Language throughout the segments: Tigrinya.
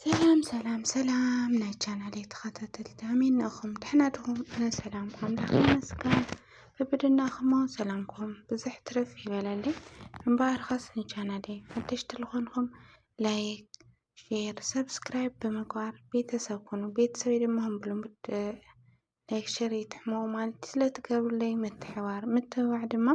ሰላም ሰላም ሰላም ናይ ቻናል ተኸታተልቲ ኣሜን ንእኹም ድሕና ድኹም ኣነ ሰላም ኣምላኽ ይመስገን ብብድናኹሞ ሰላምኩም ብዝሕ ትርፍ ይበለልይ እምበኣርከስ ንቻናል ሓደሽቲ ዝኾንኹም ላይክ ሼር ሰብስክራይብ ብምግባር ቤተሰብ ኩኑ ቤተሰብ ድማ ብልሙድ ላይክ ሸር ይትሕመው ማለት ስለትገብሩለይ ምትሕባር ምትብባዕ ድማ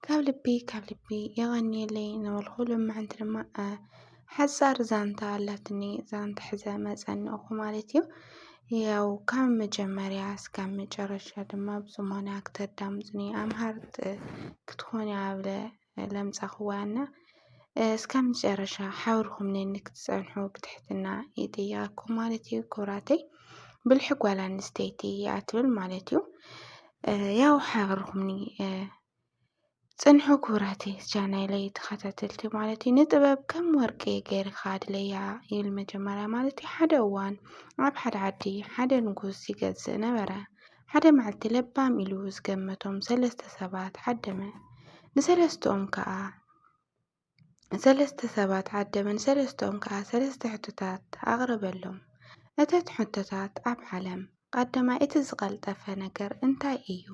ካብ ልቢ ካብ ልቢ የቐንየለይ ነበልኩ ልምዕንቲ ድማ ሓፃር ዛንታ ኣላትኒ ዛንታ ሕዘ መፀንእኹ ማለት እዩ ያው ካብ መጀመርያ እስካብ መጨረሻ ድማ ብዝሞነ ክተዳምፅኒ ኣምሃርት ክትኾኒ ኣብለ ለምጻኹዋ እና እስካብ መጨረሻ ሓብርኹም ነኒ ክትጸንሑ ብትሕትና ይጥይቃኩም ማለት እዩ። ኩብራተይ ብልሒ ጓል ኣንስተይቲ ይኣትብል ማለት እዩ። ያው ሓብርኹምኒ ጽንሑ ኩብራተይ ቻናለይ ተኸታተልቲ ማለት እዩ። ንጥበብ ከም ወርቂ ገይርካ ኣድለያ ይብል መጀመርያ ማለት እዩ። ሓደ እዋን ኣብ ሓደ ዓዲ ሓደ ንጉስ ይገዝእ ነበረ። ሓደ መዓልቲ ለባም ኢሉ ዝገመቶም ሰለስተ ሰባት ዓደመ። ንሰለስተኦም ከኣ ሰለስተ ሰባት ዓደመ ንሰለስተኦም ከኣ ሰለስተ ሕቶታት ኣቕረበሎም። እተን ሕቶታት ኣብ ዓለም ቐዳማይ እቲ ዝቐልጠፈ ነገር እንታይ እዩ?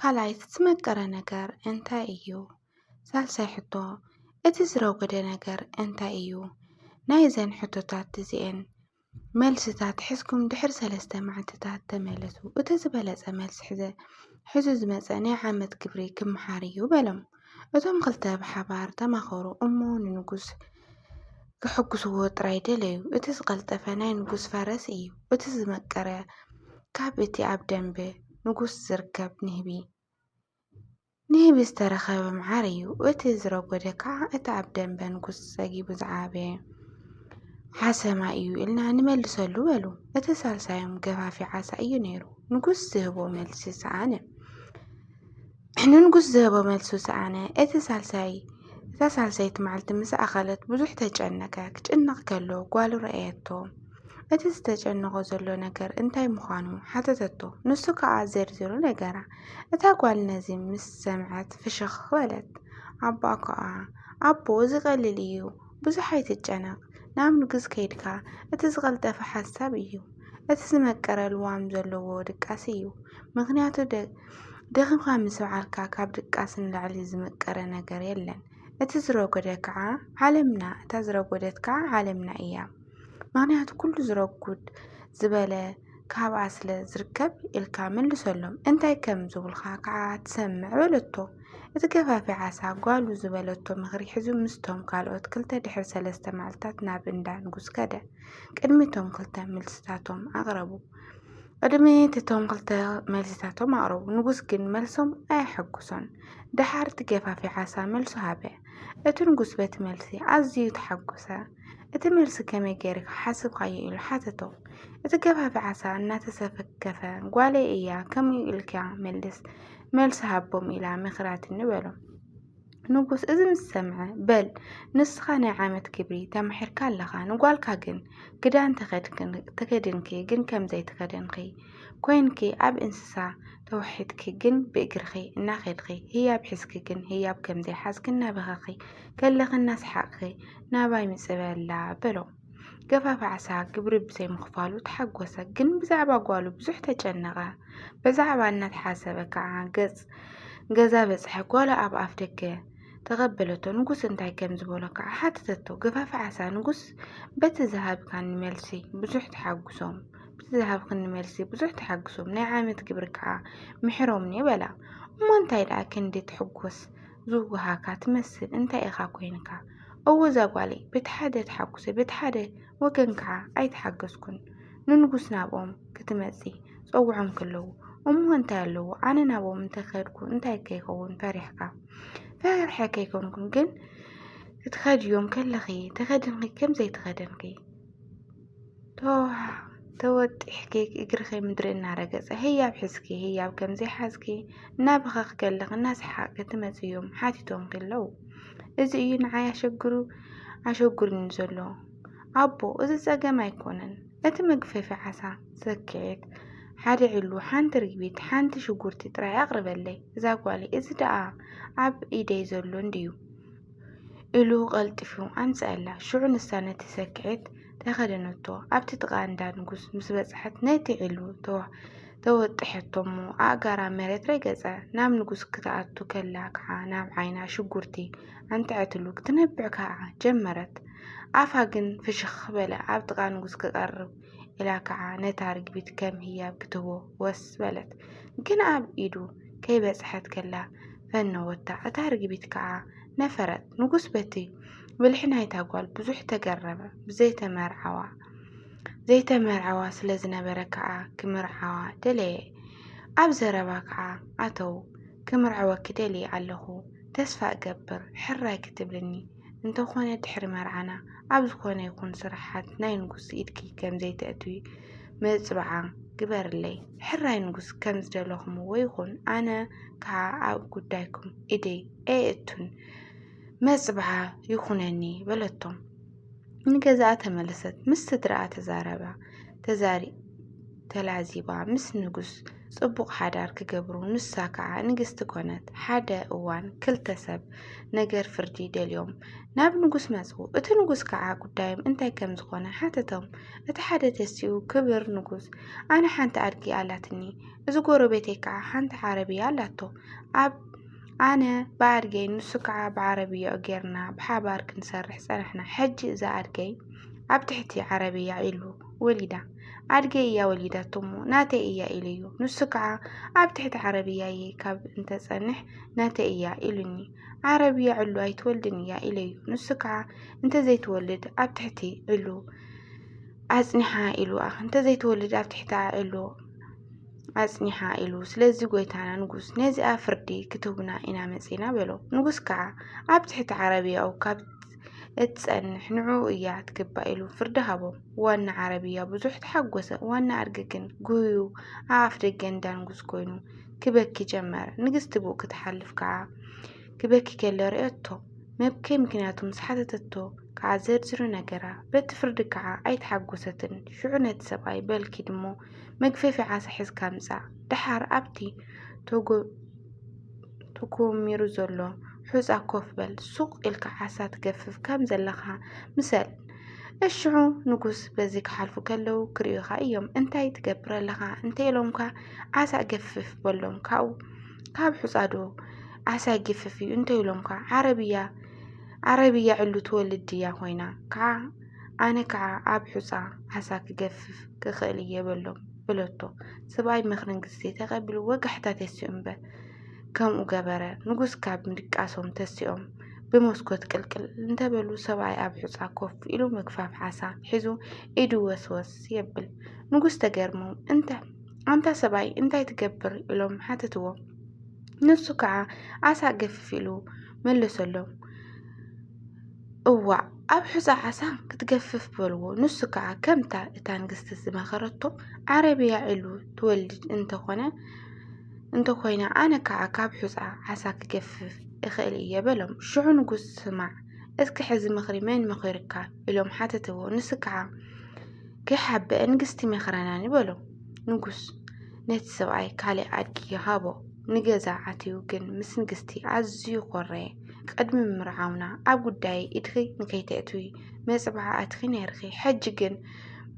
ካልኣይ እቲ ዝመቀረ ነገር እንታይ እዩ? ሳልሳይ ሕቶ እቲ ዝረጎደ ነገር እንታይ እዩ? ናይዘን ሕቶታት እዚኤን መልስታት ሕዝኩም ድሕሪ ሰለስተ መዓልትታት ተመለሱ። እቲ ዝበለጸ መልሲ ሕዘ ሕዚ ዝመጸ ናይ ዓመት ግብሪ ክምሓር እዩ በሎም። እቶም ክልተ ብሓባር ተማኸሩ እሞ ንንጉስ ክሕጉስዎ ጥራይ ደለዩ። እቲ ዝቐልጠፈ ናይ ንጉስ ፈረስ እዩ፣ እቲ ዝመቀረ ካብ እቲ ኣብ ደንበ ንጉስ ዝርከብ ንህቢ። ንህቢ ዝተረኸበ መዓር እዩ፣ እቲ ዝረጎደ ከዓ እቲ ኣብ ደምበ ንጉሥ ጸጊቡ ዝዓበየ ሓሰማ እዩ ኢልና ንመልሰሉ በሉ። እቲ ሳልሳዮም ገፋፊ ዓሳ እዩ ነይሩ። ንጉሥ ዝህቦ መልሲ ሰኣነ። ንንጉሥ ዝህቦ መልሱ ሰኣነ። እቲ ሳልሳይ እታ ሳልሰይቲ መዓልቲ ምስ ኣኸለት ብዙሕ ተጨነቀ። ክጭነቕ ከሎ ጓሉ ረኣየቶ። እቲ ዝተጨነቖ ዘሎ ነገር እንታይ ምዃኑ ሓተተቶ። ንሱ ከኣ ዘርዚሩ ነገራ። እታ ጓል ነዚ ምስ ሰምዐት ፍሽኽ በለት። ኣቦ ከኣ ኣቦ እዚ ቀሊል እዩ፣ ብዙሕ ኣይትጨነቕ፣ ናብ ንጉስ ከይድካ እቲ ዝቐልጠፈ ሓሳብ እዩ፣ እቲ ዝመቀረ ልዋም ዘለዎ ድቃስ እዩ፣ ምኽንያቱ ደኺምካ ምስ በዓልካ ካብ ድቃስ ንላዕሊ ዝመቀረ ነገር የለን፣ እቲ ዝረጎደ ከኣ ዓለምና እታ ዝረጎደት ከኣ ዓለምና እያ። ምክንያቱ ኩሉ ዝረጉድ ዝበለ ካብኣ ስለ ዝርከብ ኢልካ መልሰሎም እንታይ ከም ዝብልካ ከዓ ትሰምዕ በለቶ እቲ ገፋፊ ዓሳ ጓሉ ዝበለቶ ምኽሪ ሕዙ ምስቶም ካልኦት ክልተ ድሕሪ ሰለስተ መዓልትታት ናብ እንዳ ንጉስ ከደ ቅድሚቶም ክልተ መልስታቶም ኣቕረቡ ቅድሚ እቶም ክልተ መልስታቶም ኣቕረቡ ንጉስ ግን መልሶም ኣየሐጉሶን ደሓር እቲ ገፋፊ ዓሳ መልሱ ሃበ እቲ ንጉስ በቲ መልሲ ኣዝዩ ተሓጎሰ እቲ መልሲ ከመይ ገይርካ ሓስብካዮ ኢሉ ሓተቶ። እቲ ገባቢ ዓሳ እናተሰከፈ ጓለይ እያ ከምኡ ኢልካ መልስ መልሲ ሃቦም ኢላ መክራትኒ በሎ። ንጉስ እዚ ምስ ሰምዐ በል ንስኻ ናይ ዓመት ግብሪ ተማሒርካ ኣለኻ ንጓልካ ግን ክዳን ተኸድንኪ ግን ከምዘይ ተኸደንኺ ኮይንኪ ኣብ እንስሳ ተዋሒጥኪ ግን ብእግርኺ እናኸድኺ ህያብ ሒዝኪ ግን ህያብ ከምዘይ ሓዝኪ እናበኸኺ ከለኺ እናስሓቕኺ ናባይ ምጽእ በላ በሎ። ገፋፊ ዓሳ ግብሪ ብዘይምኽፋሉ ተሓጎሰ፣ ግን ብዛዕባ ጓሉ ብዙሕ ተጨነቐ። ብዛዕባ እናተሓሰበ ከዓ ገጽ ገዛ በጽሐ። ጓሉ ኣብ ኣፍ ደገ ተቐበለቶ። ንጉስ እንታይ ከም ዝበሎ ከዓ ሓተተቶ። ገፋፊ ዓሳ ንጉስ በቲ ዝሃብካኒ መልሲ ብዙሕ ተሓጉሶም በቲ ዝሃብክኒ መልሲ ብዙሕ ተሓግሶም ናይ ዓመት ግብሪ ከዓ ምሕሮምኒ በላ። እሞ እንታይ ደኣ ክንዲ ትሕጎስ ዝዋሃካ ትመስል እንታይ ኢኻ ኮይንካ እወ እዛ ጓለይ በቲ ሓደ ተሓጉሰ በቲ ሓደ ወገን ከዓ ኣይተሓገዝኩን ንንጉስ ናብኦም ክትመፂ ፀውዖም ከለዉ እሞ እንታይ ኣለዎ ኣነ ናብኦም እንተኸድኩ እንታይ ከይኸውን ፈሪሕካ ፈርሐ ከይኮንኩን ግን እትኸድዮም ከለኺ ተኸድንኺ ከምዘይተኸደንኪ ተወጢሕኪ እግርኺ ምድሪ እናረገፀ ህያብ ሕዝኪ ህያብ ከምዘይ ሓዝኪ እናበኸኽ ከለኺ እናሰሓቕኪ ትመፂ እዮም ሓቲቶምኪ ኣለዉ እዚ እዩ ንዓይ ኣሸግሩ ኣሸጉርኒ ዘሎ ኣቦ እዚ ፀገም ኣይኮነን እቲ መግፈፊ ዓሳ ሰክዔት ሓደ ዕሉ ሓንቲ ርግቢት ሓንቲ ሽጉርቲ ጥራይ ኣቕርበለይ እዛ ጓለይ እዚ ደኣ ኣብ ኢደይ ዘሎ እንድዩ ኢሉ ቐልጢፉ ኣምጽኣላ። ሽዑ ንሳ ነቲ ሰክዔት ተኸደነቶ። ኣብቲ ጥቓ እንዳ ንጉስ ምስ በጽሐት ነቲ ዒሉ ተወጥሐቶ'ሞ ኣእጋራ መሬት ረገጸ። ናብ ንጉስ ክትኣቱ ከላ ከኣ ናብ ዓይና ሽጉርቲ ኣንትዐትሉ ክትነብዕ ከኣ ጀመረት። ኣፋ ግን ፍሽኽ በለ። ኣብ ጥቓ ንጉስ ክቐርብ ኢላ ከኣ ነታ ርግቢት ከም ህያብ ክትህቦ ወስ በለት። ግን ኣብ ኢዱ ከይበጽሐት ከላ ፈነወታ፣ እታ ርግቢት ከኣ ነፈረት። ንጉስ በቲ ብልሒ ናይታ ጓል ብዙሕ ተገረመ፣ ብዘይተመርዓዋ ዘይተመርዓዋ ስለ ዝነበረ ከኣ ክምርዓዋ ደለየ። ኣብ ዘረባ ከኣ ኣተዉ፣ ክምርዐወኪ ደልየ ኣለኹ፣ ተስፋ እገብር ሕራይ ክትብልኒ። እንተኾነ ድሕሪ መርዓና ኣብ ዝኾነ ይኹን ስራሓት ናይ ንጉስ ኢድኪ ከምዘይተእትዊ መፅብዓ ግበርለይ። ሕራይ ንጉስ ከም ዝደለኹምዎ ይኹን ኣነ ከዓ ኣብ ጉዳይኩም ኢደይ ኣየእቱን መፅብዓ ይኹነኒ በለቶም። ንገዛኣ ተመለሰት ምስ ስድራኣ ተዛረባ ተዛሪ ተላዚባ ምስ ንጉስ ጽቡቕ ሓዳር ክገብሩ ንሳ ከኣ ንግስቲ ኮነት። ሓደ እዋን ክልተ ሰብ ነገር ፍርዲ ደልዮም ናብ ንጉስ መጹ። እቲ ንጉስ ከኣ ጉዳዮም እንታይ ከም ዝኾነ ሓተቶም። እቲ ሓደ ተሲኡ ክብር ንጉስ ኣነ ሓንቲ ኣድጊ ኣላትኒ፣ እዚ ጎረቤተይ ከኣ ሓንቲ ዓረብያ ኣላቶ ኣብ ኣነ ብኣድገይ ንሱ ከዓ ብዓረብያኡ ጌርና ብሓባር ክንሰርሕ ጸናሕና። ሕጂ እዛ ኣድገይ ኣብ ትሕቲ ዓረብያ ኢሉ ወሊዳ። ኣድገይ እያ ወሊዳቶ እሞ ናተይ እያ ኢሉ እዩ ንሱ ከዓ ኣብ ትሕቲ ዓረብያ እየ ካብ እንተፀንሕ ናተይ እያ ኢሉኒ ዓረብያ ዕሉ ኣይትወልድን እያ ኢለ እዩ ንሱ ከዓ እንተዘይትወልድ ኣብ ትሕቲ ዕሉ ኣፅኒሓ ኢሉ እንተዘይትወልድ ኣብ ትሕቲ ዕሉ ኣፅኒሓ ኢሉ ስለዚ ጎይታና ንጉስ ነዚኣ ፍርዲ ክትህቡና ኢና መፂና በሎ ንጉስ ከዓ ኣብ ትሕቲ ዓረብያኡ ካብ እትጸንሕ ንዕኡ እያ ትግባእ ኢሉ ፍርዲ ሃቦም። ዋና ዓረብያ ብዙሕ ተሓጎሰ፣ ዋና ኣድጊ ግን ጉህዩ ኣብ ኣፍ ደገ እንዳንጉስ ኮይኑ ክበኪ ጀመረ። ንግስቲ ብኡ ክትሓልፍ ከዓ ክበኪ ከሎ ርእየቶ። መብከይ ምክንያቱ ምስ ሓተተቶ ከዓ ዘርዝሩ ነገራ። በቲ ፍርዲ ከዓ ኣይተሓጎሰትን። ሽዑ ነቲ ሰብኣይ በል ኪድ እሞ መግፈፊ ዓሳ ሒዝካ ምጻእ፣ ደሓር ኣብቲ ተኮሚሩ ዘሎ ሑጻ ኮፍ በል ሱቅ ኢልካ ዓሳ ትገፍፍ ከም ዘለኻ ምሰል እሽዑ ንጉስ በዚ ክሓልፉ ከለው ክርእዩኻ እዮም እንታይ ትገብር ኣለኻ እንተኢሎምካ ዓሳ ገፍፍ በሎም ካብኡ ካብ ሑጻዶ ዓሳ ይግፍፍ እዩ እንተኢሎምካ ዓረብያ ዓረብያ ዕሉ ትወልድ ድያ ኮይና ከዓ ኣነ ከዓ ኣብ ሑፃ ዓሳ ክገፍፍ ክኽእል እየ በሎም በለቶ። ሰብኣይ ምኽርን ግዜ ተቐቢሉ ወጋሕታ ተሲኡ እምበር ከምኡ ገበረ። ንጉስ ካብ ምድቃሶም ተሲኦም ብመስኮት ቅልቅል እንተበሉ ሰብኣይ ኣብ ሑጻ ኮፍ ኢሉ ምግፋፍ ዓሳ ሒዙ ኢዱ ወስወስ የብል። ንጉስ ተገርሞም እንተ ኣንታ ሰብኣይ እንታይ ትገብር ኢሎም ሓተትዎ። ንሱ ከዓ ዓሳ ገፍፍ ኢሉ መለሰሎም። እዋእ ኣብ ሑጻ ዓሳ ክትገፍፍ በልዎ። ንሱ ከኣ ከምታ እታ ንግስቲ ዝመኸረቶ ዓረብያ ዒሉ ትወልድ እንተኾነ እንተኾይና ኣነ ከኣ ካብ ሑጻ ዓሳ ክገፍፍ እኽእል እየ በሎም። ሽዑ ንጉስ ስማዕ እስኪ ሕዚ ምኽሪ መን መኺሩካ ኢሎም ሓተትዎ። ንሱ ከዓ ከይሓበአ ንግስቲ መኽረናኒ በሎ። ንጉስ ነቲ ሰብኣይ ካልእ ኣድጊ ሃቦ። ንገዛ ኣትዩ ግን ምስ ንግስቲ ኣዝዩ ኮረየ። ቕድሚ ምምርዓውና ኣብ ጉዳየይ ኢድኺ ንከይተእትዊ መጽብዓ ኣትኺ ነይርኺ፣ ሕጂ ግን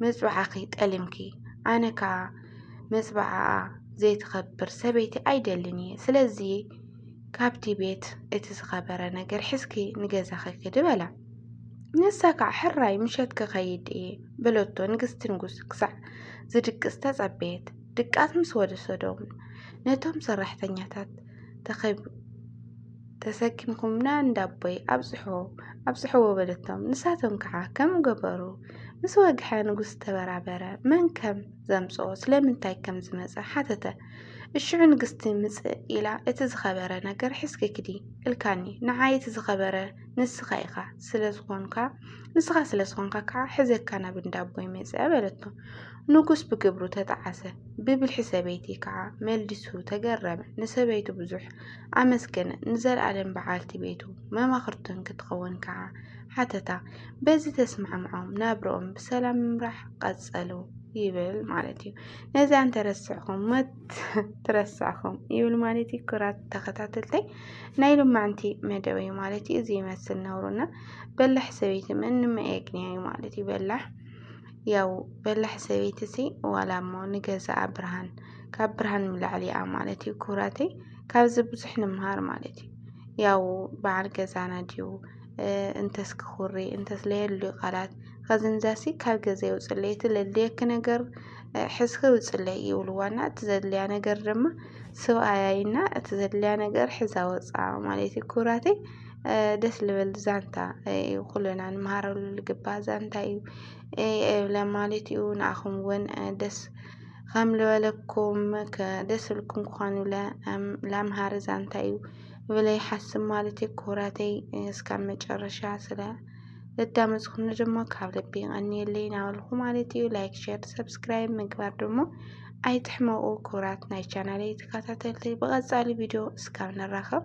መጽብዓኺ ጠሊምኪ፣ ኣነ ከኣ መጽብዓኣ ዘይትኸብር ሰበይቲ ኣይደልን እየ፣ ስለዚ ካብቲ ቤት እቲ ዝኸበረ ነገር ሒዝኪ ንገዛኺ ክዲ በላ። ንሳ ከዓ ሕራይ ምሸት ክኸይድ እየ በለቶ። ንግስቲ ንጉስ ክሳዕ ዝድቅስ ተጸበየት። ድቃስ ምስ ወሰዶም ነቶም ሰራሕተኛታት ተሰኪምኩምና እንዳ ኣቦይ ኣብጽሖ ኣብጽሕዎ በለቶም። ንሳቶም ከዓ ከም ገበሩ ምስ ወግሐ ንጉስ ተበራበረ። መን ከም ዘምጽኦ ስለምንታይ ከም ዝመጸ ሓተተ። እሽዑ ንግስቲ ምጽእ ኢላ እቲ ዝኸበረ ነገር ሒዝኪ ክዲ እልካኒ ንዓይ እቲ ዝኸበረ ንስኻ ኢኻ ስለዝኾንካ ንስኻ ስለዝኾንካ ከዓ ሕዘካ ናብ እንዳ ኣቦይ መጸ በለቶ። ንጉስ ብግብሩ ተጠዓሰ፣ ብብልሒ ሰበይቲ ከኣ መልዲሱ ተገረመ፣ ንሰበይቱ ብዙሕ ኣመስገነ፣ ንዘልኣለም በዓልቲ ቤቱ መማኽርቱን ክትኸውን ከኣ ሓተታ፣ በዚ ተስማዕምዖም ናብርኦም ብሰላም ምምራሕ ቀጸሉ ይብል ማለት እዩ። ነዚ ኣንተረስዕኹም መት ትረስዕኹም ይብል ማለት እዩ። ክራት ተኸታተልተይ ናይ ሎማዕንቲ መደብ እዩ ማለት እዩ። እዚ ይመስል ነውሩና በላሕ ሰበይቲ ምንም ኣየግንያ እዩ ማለት እዩ በላሕ ያው በላሕ ሰበይቲ ሲ ዋላ እሞ ንገዛኣ ብርሃን ካብ ብርሃን ምላዕሊ እያ ማለት እዩ ክብራተይ ካብዚ ብዙሕ ንምሃር ማለት እዩ ያው በዓል ገዛና ድዩ እንተስ ክኹሪ እንተስ ለየሉ ቃላት ከዝንዛሲ ካብ ገዛ ይውፅለይ እቲ ለድልየኪ ነገር ሕዝኪ ውፅለይ ይብልዋና እቲ ዘድልያ ነገር ድማ ስብኣያይና እቲ ዘድልያ ነገር ሕዛ ወፃ ማለት እዩ ክብራተይ ደስ ልብል ዛንታ እዩ ኩልና ንመሃረሉ ልግባእ ዛንታ እዩ የብለ ማለት እዩ ንኣኹም እውን ደስ ከም ልበለኩም ደስ ልኩም ክኾኑ ላምሃሪ ዛንታ እዩ ብለ ይሓስብ ማለት እዩ ክቡራተይ እስካብ መጨረሻ ስለ ልዳመፅኹም ድማ ካብ ልቢ ይቐንየለይ ናበልኩ ማለት እዩ ላይክ ሸር ሰብስክራይብ ምግባር ደግሞ ኣይትሕመቑ ክቡራት ናይ ቻናለይ ተከታተልቲ ብቐፃሊ ቪድዮ እስካብ ንራኸብ